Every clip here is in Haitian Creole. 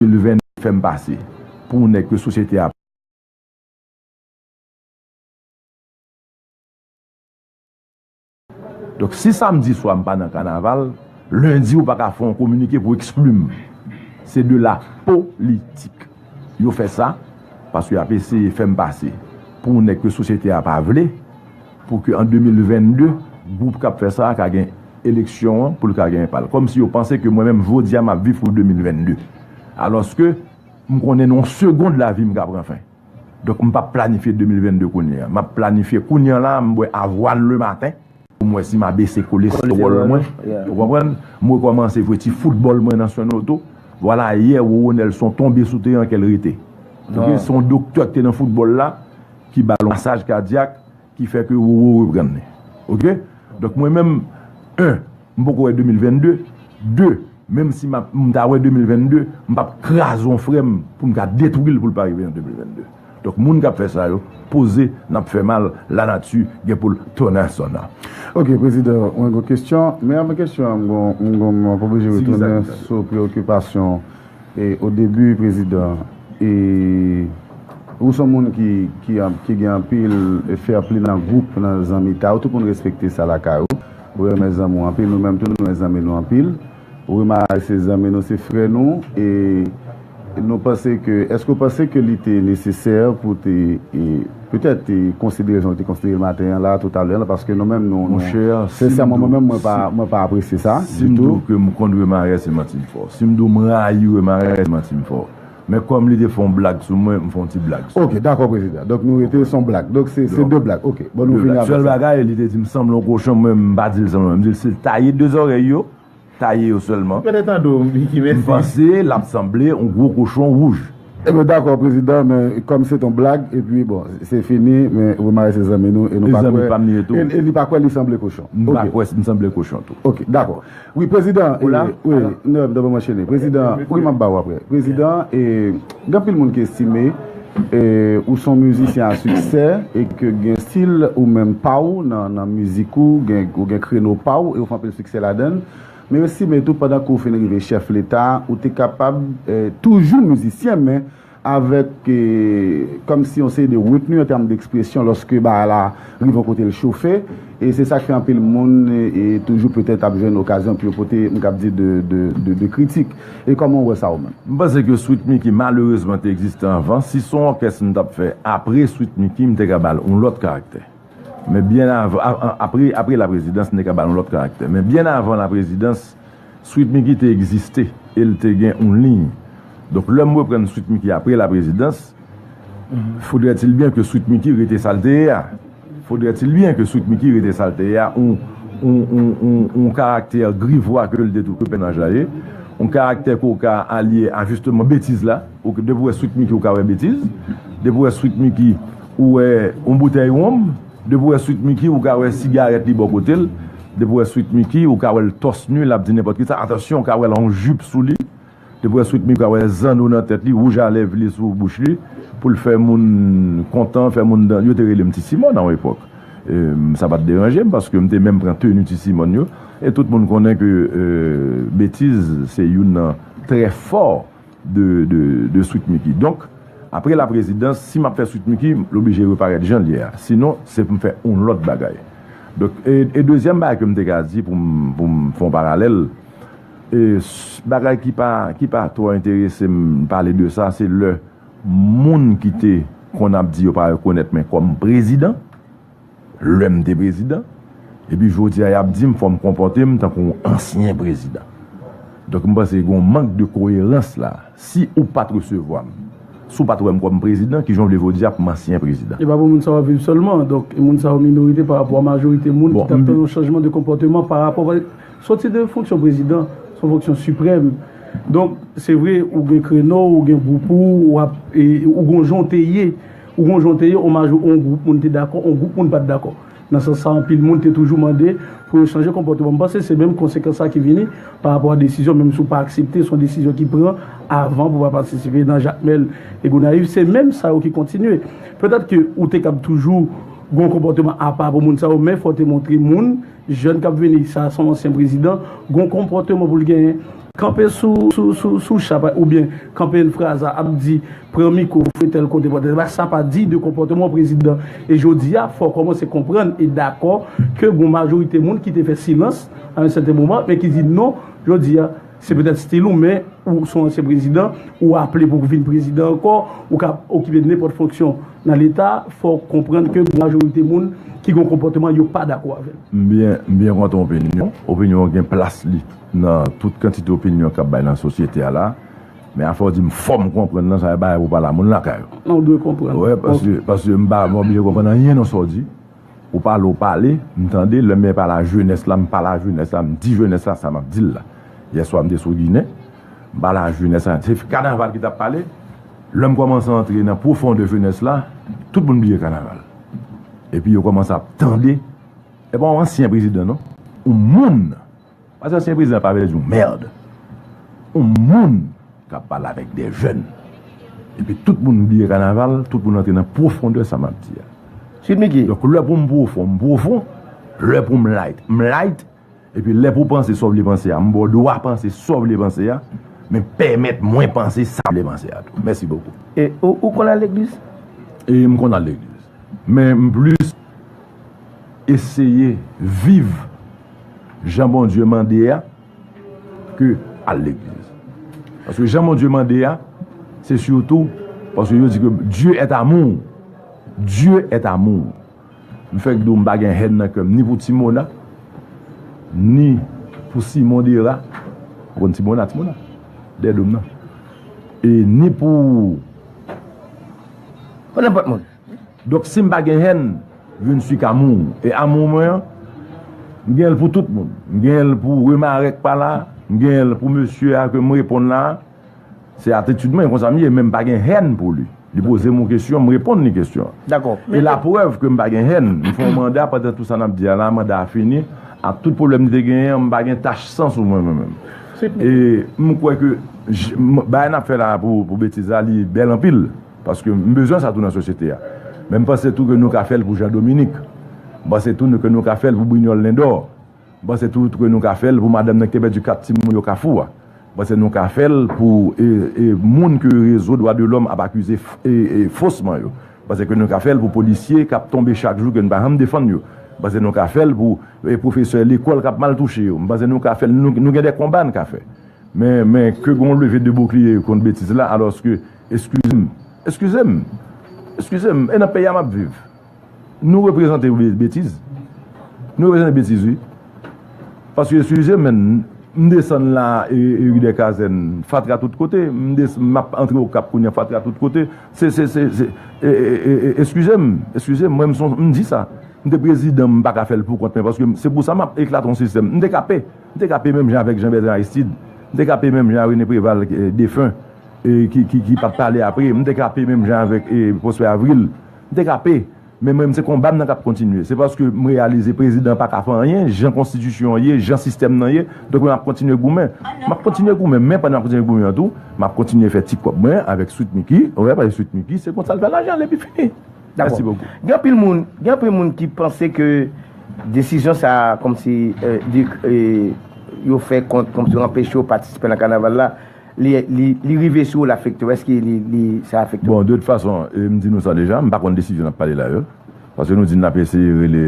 2020 fèm pase pou yon nèg ke sosyete a pa. Donk si samdi swa m pa nan kanaval, lendi ou pa ka fè yon kominike pou ekskli m. Se de la politik. Yo fè sa paske y ap eseye fèm pase pou yon nèg ke sosyete a pa vle. Pou ke an 2022, gwoup kap fè sa a ka gen eleksyon an pou l ka genyen pa l. Kòm si yo panse ke mwen menm jodi a map viv pou 2022. Alòske m konnen nan yon segond lavi m ka pran fen. Donk m pap planifye 2022 kounye a. Map planifye kounye an la a m bwè avwal le maten pou m wè si ma bese kolestewòl mwen. Ou konprann? M rekòmanse jwe ti foutbòl mwen nan Sonoto. Vwala yè Roro Nelson tonbe sou teren ke l rete. Ok, se yon doktè ki te nan foutbòl la. ki ba lonsaj kadyak ki fè ke Roro reprann li ok donk mwen menm 1 m poko wè 2022 2 menm si map m ta wè 2022 m pap kraze yon frè m pou m ka detwi l pou l pa rive an 2022 donk moun kap fè sa yo poze nap fè mal la nati gen pou l tonnen sò nan. Ok prezidan mwen gon kesyon men avan kesyon an m gon m gon m ap oblije retounen sou preokipasyon Au début prezidan ou son moun ki gen anpil fair play nan group nan zanmi ta ou tout moun respekte sa lakay ou ou renmen zanmi ou anpil nou menm tou nou renmen zanmi nou anpil ou remake se zanmi nou se frè nou e nou panse ke eske ou panse ke li te necessaire pou te Petèt, te konsidere jan ou te konsidere l maten an la, toutalè an la, paske nou menm nou, nou, sensèman mwen menm mwen pa, mwen pa apresye sa ditou. Si m di w ke m kont Wemarais se manti m fò. Si m di w m rayi Wemarais se manti m fò. Men kòm li te fè yon blag sou mwen, m fè yon ti blag sou li. Ok, dakò prezidan. Donk nou rete se yon blag. Donk se, se de blag. Ok. Bon nou fini avèk sa. Sèl bagay, li te di m sanble yon kochon, mwen m pa di l sanble, m di l si l taye de zòrèy yo, taye yo sèlman. M panse l ap sanble yon gwo kochon wouj. E mwen dakò prezidan men kòm se t yon blag epi bon se fini men Romare se zanmi nou e nou pa kwè e li pa kwè li sanble kochon. M pa kwè m sanble kochon tou. Ok dakò wi prezidan e wi m ta renmen anchene prezidan wi m ap ba ou aprè prezidan e. Gen anpil moun ki estime ou son mizisyen a siksè e ke gen stil ou menm pa ou nan mizik ou, ou gen kreno pa ou e ou fè anpil siksè ladann. Men yo estime tou pandan ke ou fin rive chèf leta, ou te kapab toujou mizisyen men avèk kòmsi yon seri de retni an tèm dekspresyon lòske bagay la rive yon kote l chofe. E se sak fè anpil moun toujou petèt ap jwenn okazyon pou yo pote m kab di de kritik. E kòman w wè sa ou menm? M panse ke Sweet Micky malerezman te egziste anvan. Si son òkès m tap fè apre Sweet Micky m te ka ba l on lòt karaktè. Men byen avan, apre laprezidans m te ka ba l on lòt karaktè. Men byen avan laprezidans. Sweet Micky te egziste e l te gen yon liy. Donk lè m reprann Sweet Micky apre laprezidans, fodrètilbyen ke Sweet Micky rete sa l te ye a. Fodrètilbyen ke Sweet Micky rete sa l te ye a, yon karaktè grivwa ke l te tou ke pènaj la ye, yon karaktè ke w ka alye a jisteman betiz la. Depi w wè Sweet Micky ou ka wè betiz. Depi w wè Sweet Micky ou wè yon boutèy wonm. Depi w wè Sweet Micky ou ka wè sigarèt li bò kote l, depi w wè Sweet Micky ou ka wè l tòs nu lap di nenpòt kisa, atansyon ou ka wè l an jup sou li, depi w wè Sweet Micky ou ka wè zanno nan tèt li, wouj a lèv li sou bouch li pou l fè moun kontan, fè moun dan, yo te rele m Ti Simòn a yon epòk, sa pat deranje m paske m te menm pran tenu Ti Simòn yo, e tout moun konnen ke betiz se youn nan trè fò. de sweet micky donk apre la prezidans si map fè sweet micky l oblije reparèt janl ye a sinon se poum fè yon lòt bagay donk e dezyèm bagay kem te ka di poum fè yon paralèl e bagay ki pa ki pa twò enteresem pale de sa se lè moun ki te konn ap di yo pa rekonèt men kòm prezidan. lèm te prezidan epi jodia yap dim fòm konpòtem tankou yon ansyen prezidan donk m panse gon mank de koyerans la si ou pat resevwam si w pat wèm kòm prezidan kijan w vle jodi a pou m ansyen prezidan. Epa pou moun sa yo ap viv sèlman, donk moun sa yo minorite pa rapò a majorite moun ki tap tann yon chanjman de konpòteman pa rapò paske sòti de fonksyon prezidan se yon fonksyon siprèm donk se vre ou gen kreno ou gen gwoup ou wap ou gon jan w te ye Ou gon jan w te ye, on majò on gwoup moun te dakò, on gwoup moun pa t dakò. Nan sans sa anpil moun te toujou mande pou yo chanje konpòteman. M panse se menm konsekans sa ki vini pa rapò a desizyon menm si w pa aksepte se yon desizyon ki pran avan pou pa patisipe nan Jakmèl e Gonayiv se menm sa yo ki kontinye. Petèt ke ou te kab toujou gon konpòteman apa pou moun sa yo men fò w te montre moun Jèn kap vini sa son ansyen prezidan gon konpòteman poul genyen. Kanpe sou cha pa oubyen kanpe yn fraza ap di pran miko fwe tèl kote pran tèl kote sa pa diy de konpòteman yon prezidan e jodia fòw kòmanse konprann e dakò ke gon majorite moun kite fè silans a yon sèten moman men ki di non jodia Se petèt stil ou men ou son ansyen prezidan, ou aple pou vin prezidan ankò, ou ka okipe nenpòt fonksyon nan leta, fò w konprann ke gwo majorite moun ki gen yon konpòteman yo pa dakò avè l. M byen kontan opinyon w. Opinyon w gen plas li nan tout kantite opinyon k ap bay nan sosyete a la. Men afè w di m fò m konprann lan, sa se bagay pou w pale a moun lakay ou. Non, w dwe konprann. Paske m pa oblije konprann anyen nan sa w di. Ou pale ou pale, m tande, lè m mèt pale a jenès la, m pale a jenès la, m di jenès la sa m ap di l la. Yèswa m te sou Ginen, m pale a jenès la, se kanaval ki t ap pale, lè m kòmanse antre nan pwofondè jenès la, tout moun bliye kanaval. Epi yo kòmanse ap tande, e pa yon ansyen prezidan non, yon moun! Pase ansyen prezidan pa vle di yon merd. Yon moun kap pale avek de jèn. Epi tout moun bliye kanaval, tout moun antre nan pwofondè sa map di a. Sweet Micky. Donk lè poum pwofon, m pwofon, lè poum light, m light, epi lè pou panse sa w vle panse a, m ba w dwa panse sa w vle panse a, men pèmèt mwen panse sa m vle panse a tou. Mèsi bokou. E ou konn al legliz? E m konn al legliz. Men m plis eseye viv. Jan Bondye mande a ke al legliz. Paske jan Bondye mande a, se sitou, paske yo di ke Dye et amour. Dye et amour. M fèk di w m pa gen hèn nan kè m ni pou Timona, ni pou Simon Dera, ou konn Timona, Timona? Dè dom nan. E ni pou... Pou nenpòt moun. Donk si m pa gen hèn, je ne suis qu'amour. E amour mwen an, m gen l pou tout moun. M gen l pou Remare k pa la, m gen l pou mesye a ke m reponn la. Se atitid mwen, e konsa m ye. Men m pa gen hèn pou li. Li poze m yon kesyon, m reponn li kesyon an. E laprèv ke m pa gen hèn, m fè yon manda pandan tout sa n ap di a la, manda a fini, ak tout pwoblèm li te genyen an, m pa gen tach san sou mwen mwen menm. E m kwè ke bagay n ap fè la pou betiz la, li bèl anpil. Paske m bezwen sa tou nan sosyete a. Men m panse tou ke nou ka fè l pou Jean Dominique. M panse tou ke nou ka fè l pou Brignol Lindor. M panse tou ke nou ka fè l pou madanm nan ki te pèdi 4 timoun yo Kafou a. M panse nou ka fè l pou moun ke rezo dwa de lòm ap akize fosman yo. M panse ke nou ka fè l pou polisye k ap tonbe chak jou ke nou pa janm defann yo. M panse nou ka fè l pou pwofesè lekòl k ap mal touche yo. M panse nou ka fè l, nou gen de konba n ka fè. Men ke gen yon leve de bouklye kont betiz la alòske. Eskize m, eskize m, eskize m, e nan peyi a map viv? Nou reprezante betiz, nou reprezante betiz wi. Paske eskize m men, m desann la e ri dè kazèn, fatra tout kote, m desann, map antre o kap kounye fatra tout kote, se, se, se, se, e, e, e, e, eskize m, eskize m, mwen m son, m di sa, m te prezidan m pa ka fèl poukont men paske se pou sa map eklate yon sistèm, m te ka pe, m te ka pe menm jan avèk Jean Bertrand Aristide, m te ka pe menm jan René Préval defen. ki pap pale apre m te kape menm jan avèk Prosper Avril m te kape men mwen se konba m nan kap kontinye se paske m reyalize prezidan pa ka fè anyen jan konstitisyon an ye jan sistèm nan ye donk mwen ap kontinye goumen m ap kontinye goumen men pandan m ap kontinye goumen an tou m ap kontinye fè ti kòb mwen avèk Sweet Micky ou wè paske Sweet Micky se konsa l fè lajan l epi fini mèsi bokou. Gen anpil moun gen anpil moun ki panse ke desizyon sa kòmsi yo fè kont kòmsi yo anpeche yo patisipe nan kanaval la Li rive sou ou l afekte w? Èske sa afekte w? Bon, de tout fason, m di nou sa deja, m pa konn desizyon n ap pale la yo. Paske nou di n ap eseye rele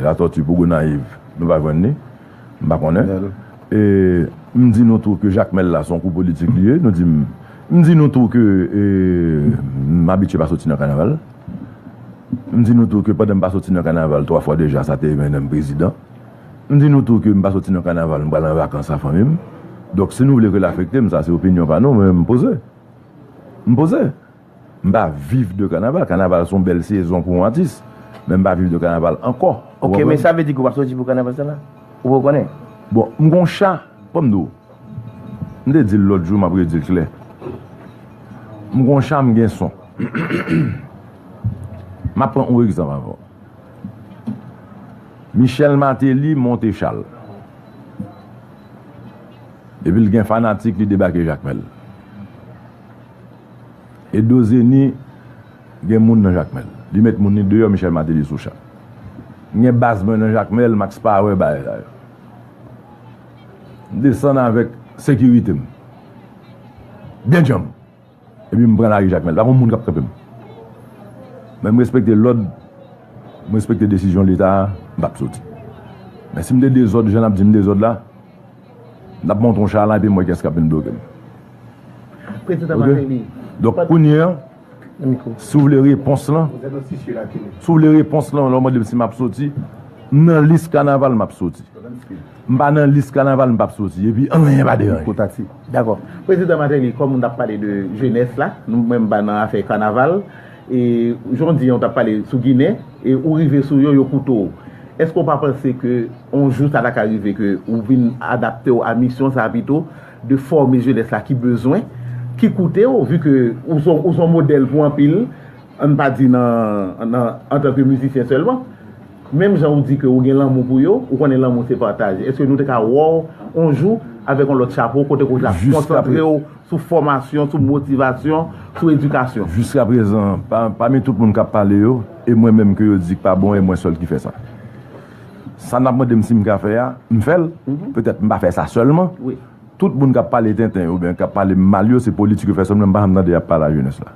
Latòti pou Gonayiv, nou pa jwenn li. M pa konnen. E m di nou tou ke Jakmèl la se yon kou politik li ye. Nou di m M di nou tou ke m abitye pa soti nan kanaval. M di nou tou ke pandan m pa soti nan kanaval twa fwa deja sa te mennen m prezidan. M di nou tou ke m pa soti nan kanaval m pral an vakans a fanmi m donk si nou vle ke l afekte m sa se opinyon pa nou mwen menm m poze m poze m pa viv de kanaval kanaval son bèl sezon pou yon atis men m pa viv de kanaval ankò ou konprann ok men sa vle di ke w pa soti pou kanaval sa la ou pa konnen bon m gon cha fò m di w m te di l lòt jou m ap redi l klè m gon cha m gen son m ap pran yon egzanp avè w. Michel Martelly monte chal epi l gen fanatik li debake Jakmèl. Edo Zeni gen moun nan Jakmèl. Li met moun li deyò Michel Martelly sou chal. M gen baz mwen nan Jakmèl, Max Power bagay sa yo. M desann avèk sekirite m. Byen djanm! Epi m pran lari Jakmèl. Pa gon moun k ap kanpe m. Men m respekte lòd, m respekte desizyon Leta a, m pa p soti. Men si m te dezòd jan n ap di m dezòd la, n ap monte yon cha la epi m wè kiyès k ap vin bloke m. Ok? Donk kounye a, si w vle repons lan, si w vle repons lan lè w mande m si m ap soti, m nan lis kanaval m ap soti. M pa nan lis kanaval m pap soti epi anyen pa deranje. Kou taksi. Dakò. Prezidan Martelly, kòm ou t ap pale de jenès la, nou menm pa nan afè kanaval, e jan w di an ou t ap pale sou Ginen, e ou rive sou yo, yo koute w. Èske w pa panse ke on jou sa ta ka rive ke ou vin adapte w a misyon sa a pito, de fòme jenès la ki bezwen, ki koute w, vi ke ou s on modèl pou anpil, an n pa di nan, nan, antanke mizisyen sèlman? Menm jan ou di ke ou gen lanmou pou yo, ou konnen lanmou se pataje. Eske nou te ka wè w on jou avèk on lòt chapo kote ke ou ta konsantre w sou fòmasyon, sou motivasyon, sou edikasyon? Jiskaprezan, pami tout moun k ap pale yo, e mwen menm ke yo di k pa bon e mwen sèl ki fè sa. Sa n ap mande m si m ka fè a, m fè l. Petèt m pa fè sa sèlman. Tout moun k ap pale tenten yo oubyen k ap pale m mal yo se politik yo fè sèlman men m pa janm tande y ap pale a jenès la.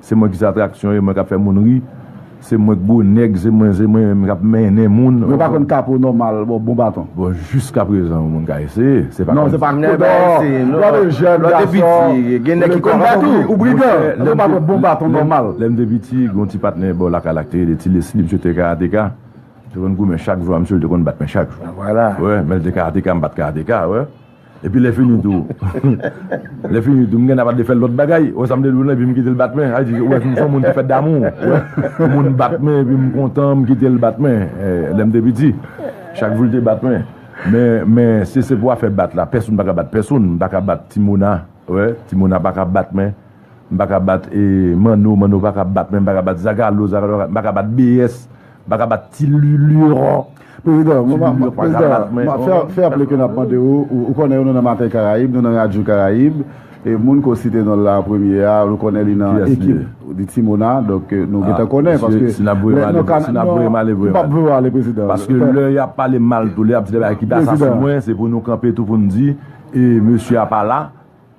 Se mwen ki se atraksyon e mwen kap fè moun ri Se mwen k gwo nèg se mwen se mwen menm kap mennen moun. Mwen pa konn kapo nòmal bon bon baton. Bon jiska prezan yon moun ka eseye se pa konn sa. Non se pa konn non lò te jèn gason gen nèg ki konn sa tou ou brigan se pa konn bon baton nòmal. Lèm te piti gen yon ti patnè bò lakay la ki te rele ti lesly misye te karateka te konn goumen chak jou a misye li te konn bat men chak jou wè men li te karateka m pat karateka wè. Epi lè fini tou Lè fini tou m gen ap de fè lòt bagay Ou wè sa m te di w lan epi m kite l bat men Sa vle di ou wè m son moun ki fè damou Moun bat men epi m kontan m kite l bat men Lè m te piti Chak jou l te bat men Men men si se pou afè bat la pèsonn pa ka bat pèsonn M pa ka bat ti Mona ou wè Ti Mona pa ka bat men M pa ka bat Manno Manno pa ka bat men M pa ka bat Zagalo Zagalo pa ka bat M pa ka bat BS Baka bat ti lulure. Prezidan, mwen pa, prezidan, mwen pa, fè, fè aple ke nap mande ou, ou konnen nou nan Maten Karayib, nou nan Radyo Karayib, e moun ke w site non l la an premye a, nou konnen li nan ekip di Ti Mona, donk nou gentan konnen, paske, si nap voye m ale, si nap voye m ale, voye m ale, m pap voye w ale prezidan, paske lè yap pale mal tou, lè yap di de bagay ki desasen mwen, se pou nou kanpe tou pou nou di, e mesye a pa la.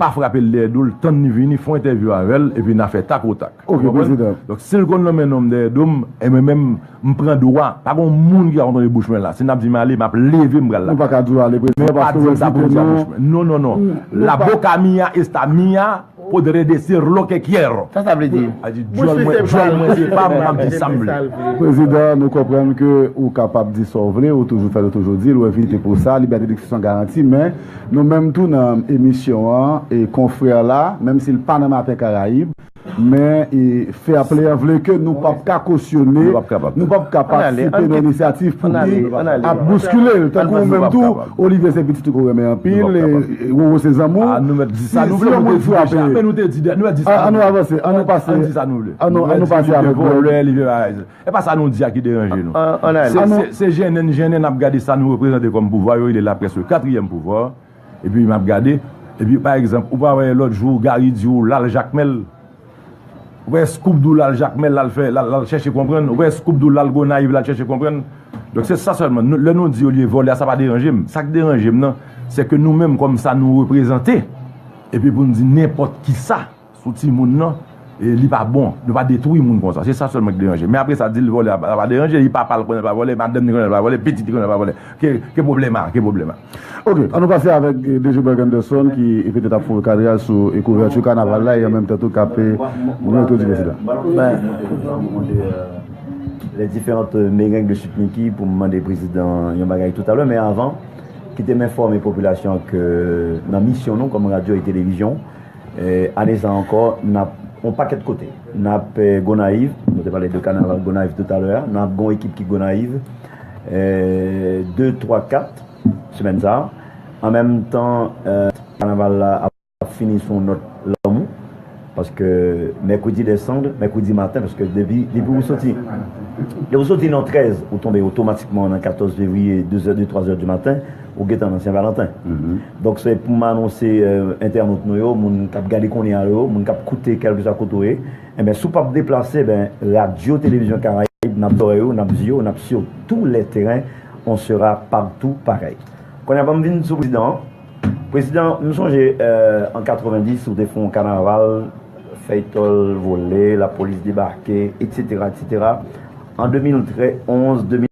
Pa frape l dèyè do l, tann li vini, fè w entèvyou avè l, epi n a fè tak o tak. Ou konprann? Donk, si l konn lonmen non m dèyè do m, e mwen menm, m pran dwa, pa gon moun ki ka kontwole bouch mwen la. Si n ap di m ale, m ap leve, m pral lakay. Nou pa ka di w ale, prezidan, paske w ezite non. Non, non, non. La boca mía está mía, podré decir lo que quiero. Sa sa vle di? Sa di dyòl mwen, dyòl mwen se pa m, m ap di sa m vle. Prezidan, nou konprann ke ou kapab di sa w vle, ou toujou fè l, ou toujou di l, ou evite pou sa, libète dekspresyon garanti, men. Nou menm tou nan emisyon an e konfrè la, menm si l pa nan Maten Karayib, men e Fair Play an vle ke nou pap ka kosyone, nou pap ka patisipe nan inisyativ pou ki ap bouskile l. Tankou ou menm tou, Olivier se pitit ou ke w renmen anpil e Roro se zanmi w. Si yon moun frape, an nou avanse, an nou pase, an nou pase avèk Bob. E pa sa nou di a ki deranje nou. Se jennen n jennen n ap gade sa nou reprezante kòm pouvwa, yo rele laprès le katriyèm pouvwa, epi m ap gade, epi pa egzanp, ou pa wè lòt jou Gari di ou l al Jakmèl, ou pa wè Skoub di w l al Jakmèl l al fè, l al chèche konprann, ou pa wè Skoub di w l al Gonayiv l al chèche konprann. Donk se sa sèlman, lè nou di olye vòlè a sa pa deranje m, sa k deranje m nan, se ke nou menm kòm sa nou reprezante, epi pou n di nenpòt kisa. sou timoun nan e li pa bon nou pa detwi moun konsa se sa sèlman ki deranje men apre sa dil vòlè a sa pa deranje li papa l konnen l pa vòlè madanm li konnen l pa vòlè pitit li konnen l pa vòlè ki pwoblèm a ki pwoblèm a ok an nou pase avèk DG Berg Anderson ki petèt ap foure kadraj sou kouvèti kanaval la e an menm tan tou kap goumen otorite prezidan ben jan nou mande les differentes merengues de Sweet Micky pou m mande prezidan yon bagay toutalè men avan kite m enfòme popilasyon ke nan misyon nou kòm radyo e televizyon Ane sa ankò, n ap yon pakèt kote. N ap Gonayiv, nou te pale de kanaval Gonayiv toutalè a, n ap gen yon ekip ki Gonayiv de, twa, kat semèn sa a. An menm tan, kanaval la ap fini sou yon nòt lanmou paske mèkredi dèsanm, mèkredi maten paske depi ou soti nan 13 ou tonbe otomatikman nan 14 fevriye de zè, de twazè di maten. Ou gentan nan Senvalanten. Donk se pou m anonse entènot nou yo, moun k ap gade kounye a yo, moun k ap koute kèlkeswa kote ou ye, enben si w pap deplase, enben Radyo Televizyon Karayib, n ap zòrèy ou, n ap zye ou, n ap sye ou tou lè teren, on sera partout pareil. Kounye a ban m vin sou Prezidan an. Prezidan, m sonje an 90 ou te fè on kanaval, fèytòl vole, lapolis debake, eksetera, eksetera. An 2013, 11, 2000.